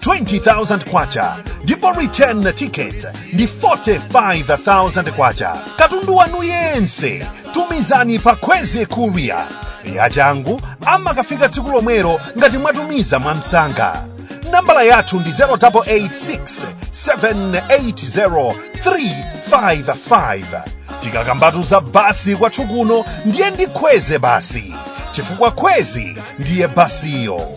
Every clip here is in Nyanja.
20,000 kwacha ndipo return ticket ndi 45,000 kwacha katundu wanu yense tumizani pa kwezy courier yachangu amakafika tsiku lomwelo ngati mwatumiza mwamsanga nambala yathu ndi 0886 780 355 tikakambatu za bus kwathu kuno ndiye ndi kwezy bus chifukwa kwezy ndiye bus-yo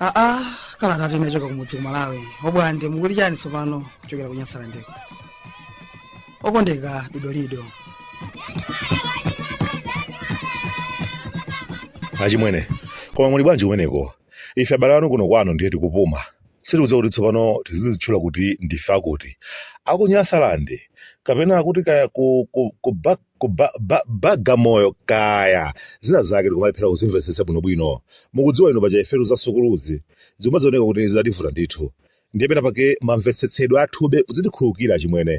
aa kalatatu inachoka kumudzi ku malawi obwande mukuti chani tsopano kuchokera ku nyasalandeko okondeka dodolido achimwene koma muli bwanji kumeneko ife abale anu kuno kwanu ndiye tikupuma sitikudziwa kuti tsopano tizizitchula kuti ndife akuti aku nyasalande kapena kuti kaya ku, ku, ku, ba, ku ba, ba, bagamoyo kaya zina zake tikumalephera kuzimvetsetsa bwinobwino mukudziwa inu paja ifetu za sukuluzi zimadzioneka kuti zidativuta ndithu Ndiye pena pake mamvetsetsedwe athube mudzitikhululukira achimwene.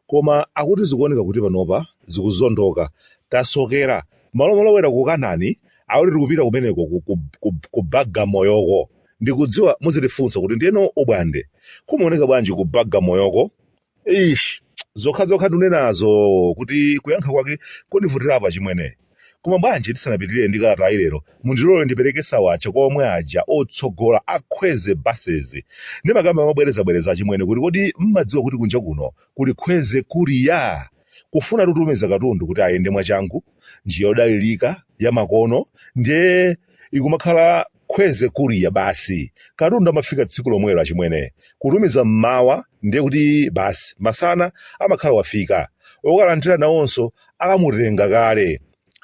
Koma akuti zikuoneka kuti panopa zikuzondoka. Tasokera. Malo molowera ku Kanani akuti tikupita kumeneko ku, ku, ku, ku Bagamoyoko. Ndikudziwa muzitifunsa kuti ndiyeno obwande kumaoneka bwanji ku Bagamoyoko? Eish, zokha zokha ndinenazo kuti kuyankha kwake kundivutirapo achimwene. Koma bwanji tisanapitirire ndi kalatayi lero, mundilole ndipereke sawacha kwa omwe aja otsogola a Kwezy Buses. Ndimakamba mobwerezabwereza achimwene kuti kodi mmadziwa kuti kunja kuno kuli Kwezy Courier? Kufuna kutumiza katundu kuti ayende mwachangu, njira yodalirika, yamakono, ndiye ikumakhala Kwezy Courier basi. Katundu amafika tsiku lomwelo achimwene. Kutumiza mmawa ndiye kuti basi masana amakhala wafika. Okalandira nawonso atamutenga kale.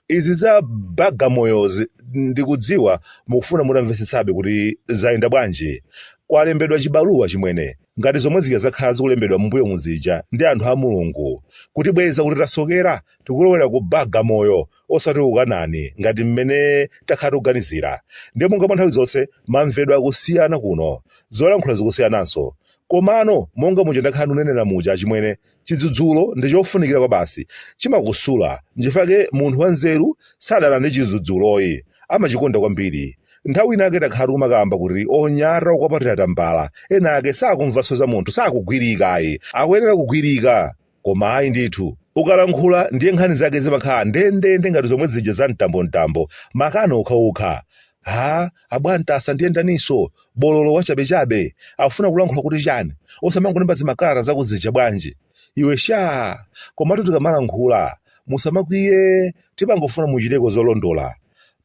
Izi za Bagamoyozi ndikudziwa mukufuna mutamvetsetsabe kuti zayenda bwanji. Kwalembedwa chibaluwa achimwene ngati zomwe zija zakhala zikulembedwa mmbuyomu zija ndi anthu a Mulungu. Kutibweza kuti tasokera tikulowera ku Bagamoyo osati kukanani ngati mmene takhala tikuganizira nde monga mwa nthawi zonse mamvedwe akusiyana kuno zolankhula zikusiyananso komano monga muja ndakhala ndikunenera muja achimwene chidzudzulo ndi chofunikira kwabasi chimakusula nchifake munthu wanzeru sadana ndi chidzudzulo ayi amachikonda kwambiri nthawi inayake takhala tikumakamba kuti onyalanyaza okwapatira tambala ena ake sakumvanso za munthu sakugwirika ayi akuyenera kugwirika koma ayi ndithu ukalankhula ndiye nkhani zake zimakhala ndendende ngati zomwe zija za mtambomtambo makano okhaokha ha abwantasa ndiye ndaninso bololo wachabechabe afuna kulankhula kuti chani osamangolemba zimakalata zako zija bwanji iwe sha komatu tikamalankhula musamakwiye timangofuna muchiteko zolondola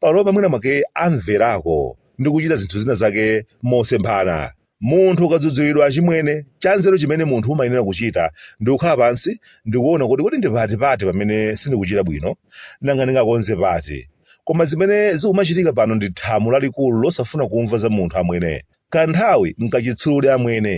panopa mwina mwake amverako ndi kuchita zinthu zina zake mosemphana Munthu ukadzudzulidwa achimwene, chanzeru chimene munthu umayenera kuchita ndi kukhala pansi ndi kuona kuti kodi ndi pati pati pamene sindikuchita bwino, nanga ndingakonze pati. Koma zimene zikumachitika pano ndi thamo lalikulu losafuna kumva za munthu amwene. Kanthawi n'kachitsulodi amwene.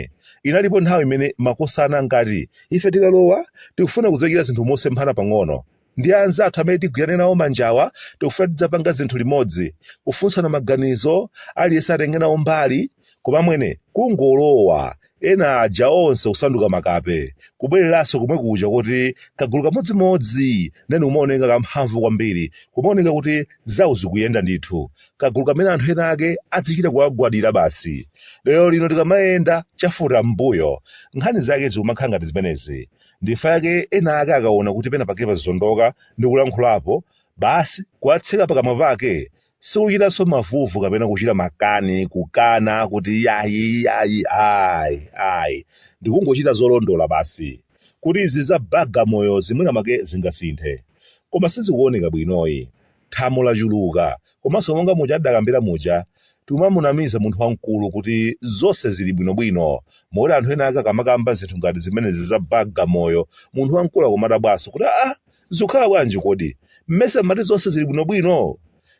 Inalipo nthawi imene makosana ankati ife tikalowa tikufuna kudzachita zinthu mosemphana pang'ono. Ndi anzathu amene tigwirane nawo manjawa tikufuna tidzapanga zinthu limodzi, kufunsana maganizo, aliyense atenge nawo mbali, koma amwene, kungolowa, ena aja onse kusanduka makape, kubwereranso komwe kuja kuti kagulu kamodzimodzi then kumaoneka kamphamvu kwambiri, kumaoneka kuti zawo zikuyenda ndithu, kagulu kamene anthu ena ake adzichita kuwagwadira basi. Lero lino tikamayenda chafuta mmbuyo, nkhani zake zikumakhala ngati zimenezi. ndifa yake ena ake akaona kuti pena pake pazondoka ndi kulankhulapo basi kuwatseka pakamwa pake sikuchitanso mavuvu kapena kuchita makani kukana kuti yayi yayi ayi ayi ndikungochita zolondola basi kuti izi za bagamoyozi mwina mwake zingasinthe koma sizikuoneka bwinoyi thamo lachuluka komanso monga muja ndidakambira muja timamunamiza munthu wamkulu kuti zonse zili bwinobwino moti anthu ena ake akamakamba zinthu ngati zimenezi za bagamoyo munthu wamkulu akumadabwanso kuti aa zikukhala bwanji kodi mmesa mmati zonse zili bwinobwino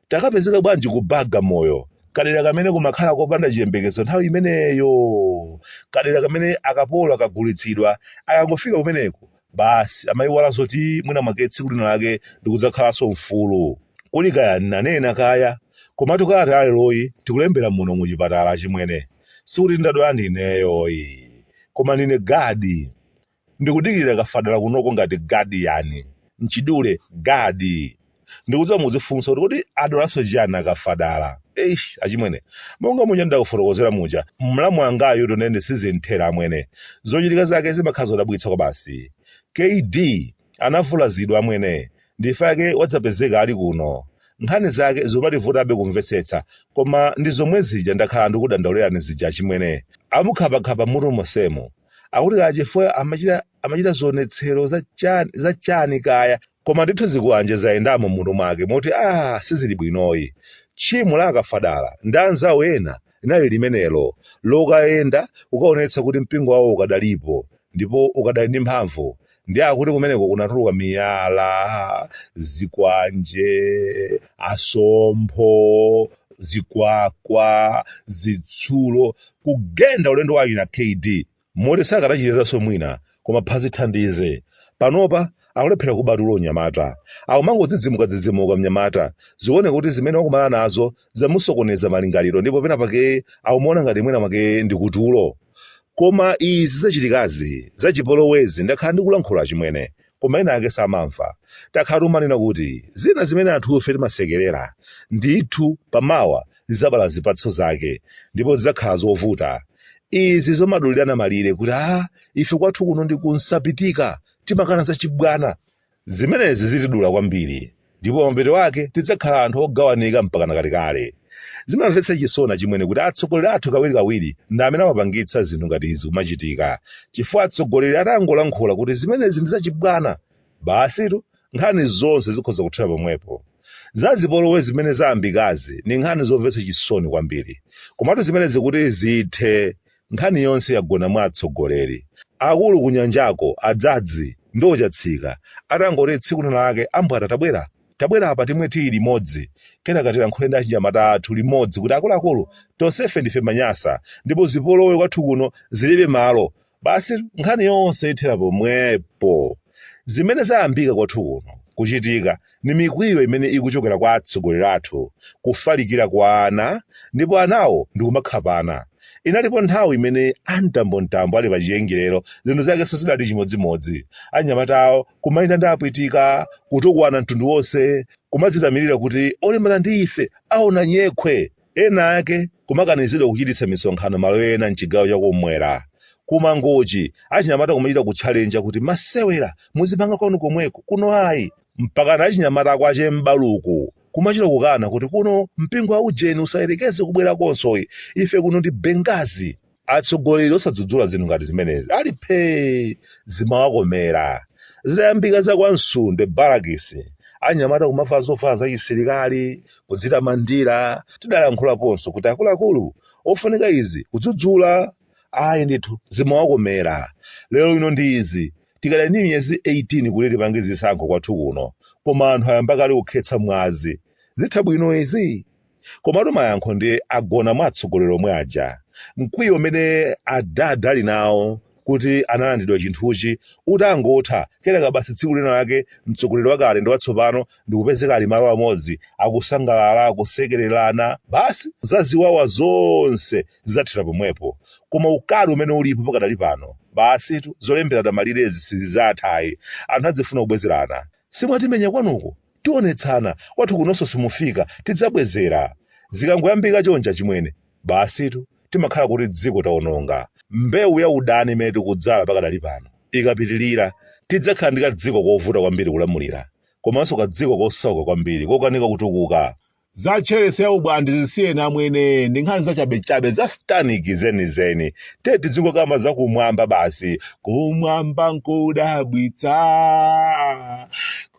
takapezeka bwanji ku bagamoyo kadera kamene kumakhala kopanda chiyembekezo nthawi imeneyo kadera kamene akapolo akagulitsidwa akangofika kumeneko basi amayiwala zoti mwina mwake tsiku lina lake ndikudzakhalanso mfulu kuli kaya ndinanena kaya komatu kalata yaleroyi tikulembera muno mu chipatala achimwene sikuti ndadwala ndineyoyi koma ndine gadi ndikudikirira kafadala kunoko ngati gadiyani mchidule gadi ndikudziwa muzifunsa kuti kodi adwalanso chiyani akafadala eish achimwene monga muja ndakufotokozera muja mlamu wangayo tonene sizinthera amwene zochitika zake zimakhala zodabwitsa kwabasi kd anavulazidwa amwene ndifa yake wadzapezeka ali kuno nkhani zake zomativutabe kumvetsetsa koma ndi zomwe zija ndakhala ndikudandaulirani zija achimwene amukhapakhapa mutu monsemu akuti kaya chifukwa amachita zionetsero za chani kaya Koma ndithu zikwanje zayendamo m'mutu mwake moti aah sizili bwinoyi. Tchimo la a Kafadala ndi anzawo ena linali limenelo, lokayenda ukaonetsa kuti mpingo wawo ukadalipo ndipo ukadali ndi mphamvu. Ndiye akuti kumeneko kunatuluka miyala, zikwanje, asompho, zikwakwa, zitsulo, kugenda ulendo wa achina KD moti sakadachitiranso mwina koma phazi thandize. Panopa akulephera kuba tulo mnyamata. Akumangodzidzimukadzidzimuka mnyamata. Zikuoneka kuti zimene wakumana nazo zamusokoneza malingaliro ndipo pena pake akumaona ngati mwina mwake ndi kutulo. Koma izi zachitikazi, zachipolowezi, ndakhala ndikulankhula achimwene. koma ena ake samamva. Takhala timanena kuti zina zimene anthufe timasekerera, ndithu pa mawa zidzabala zipatso zake ndipo zidzakhala zovuta. Izi zomadulirana malire kuti aah ife kwathu kuno ndi ku Nsapitika timakana zachibwana, zimenezi zitidula kwambiri. ndipo pamapeto ake tidzakhala anthu ogawanika mpakana kalekale. Zimamvetsa chisoni achimwene kuti atsogoleri athu kawirikawiri ndi amene amapangitsa zinthu ngati izi kumachitika, chifukwa atsogoleri atangolankhula kuti zimenezi ndi zachibwana, basitu nkhani zonse zikhoza kuthera pomwepo. Za zipolowe zimene zayambikazi ndi nkhani zomvetsa chisoni kwambiri. Komatu zimenezi kuti zithe, Nkhani yonse yagona mwa atsogoleri. Akulu kunyanjako a Dzadzi ndi Ochatsika atangoti tsiku lina lake ambwata tabwera tabwera pa timwe tiyi limodzi kenaka tilankhule ndi achinyamata athu limodzi kuti akuluakulu tonsefe ndife manyasa ndipo zipolowe kwathu kuno zilibe malo basi nkhani yonse ithera pomwepo. Zimene zayambika kwathu kuno kuchitika Ni mikwiyo imene ikuchokera kwa atsogoleri athu kufalikira kwa ana, ndipo anawo ndi kumakhapana. Inalipo nthawi imene a Mtambo-Mtambo ali pa chiyengerero zinthu zakenso zidali chimodzimodzi. Anyamata awo kumayenda ndi apwitika, kutukwana mtundu wonse, kumadzitamirira kuti olimbana ndi ife aona nyekhwe! Ena ake kumakanizidwa kuchititsa misonkhano malo ena m'chigawo cha kummwera. Ku Mangochi, achinyamata kumachita kutchalenja kuti masewera muzipanga kwanu komweko, kuno ayi. Mpakana achinyamata a kwa che M'baluku kumachita kukana kuti kuno mpingo wa ujeni usayerekeze kubwera kunonso, ife kuno ndi Benghazi. atsogoleri osadzudzula zinthu ngati zimenezi ali phee zimawakomera zitayambika za kwa Msundwe barakisi anyamata kumavala zovala za chisilikali kudzitamandira tidalankhulaponso kuti akuluakulu ofunika izi kudzudzula ayi ndithu zimawakomera lero lino ndi izi tikadali ndi miyezi 18 kuti tipange zisankho kwathu kuno koma anthu ayamba kale kukhetsa mwazi zitha bwino izi Komatu mayankho ndiye agona mwa atsogoleri omwe aja. Mkwiyo umene a Dad ali nawo kuti analandidwa chinthuchi utangotha, kenaka basi tsiku lina lake mtsogoleri wakale ndi watsopano ndikupezeka ali malo amodzi akusangalala, akusekererana, basi za ziwawa zonse zidzathera pomwepo. Koma ukali umene ulipo pakadali pano, basitu zolemberana malirezi sizidzatha ayi. Anthu adzifuna kubwezerana. Simwatimenya kwanuko? Tionetsana, kwathu kunonso simufika, tidzabwezera. Zikangoyambika chonchi achimwene, basitu, timakhala kuti dziko taononga. Mbewu ya udani imene tikudzala pakadali pano ikapitirira, tidzakhala ndi kadziko kovuta kwambiri kulamulira komanso kadziko kosauka kwambiri kokanika kutukuka. za tcheresi ya ubwandi zisiyeni amwene ndi nkhani zachabechabe za satanic zenizeni tidzingokamba za kumwamba basi kumwamba nkudabwitsa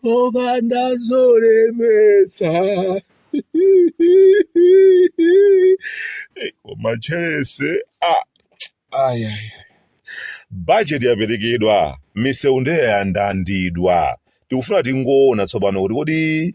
kopanda zolemetsa koma tcheresi ah, ayaya bajeti yaperekedwa misewu ndeya yandandidwa tikufuna tingoona tsopano kuti kodi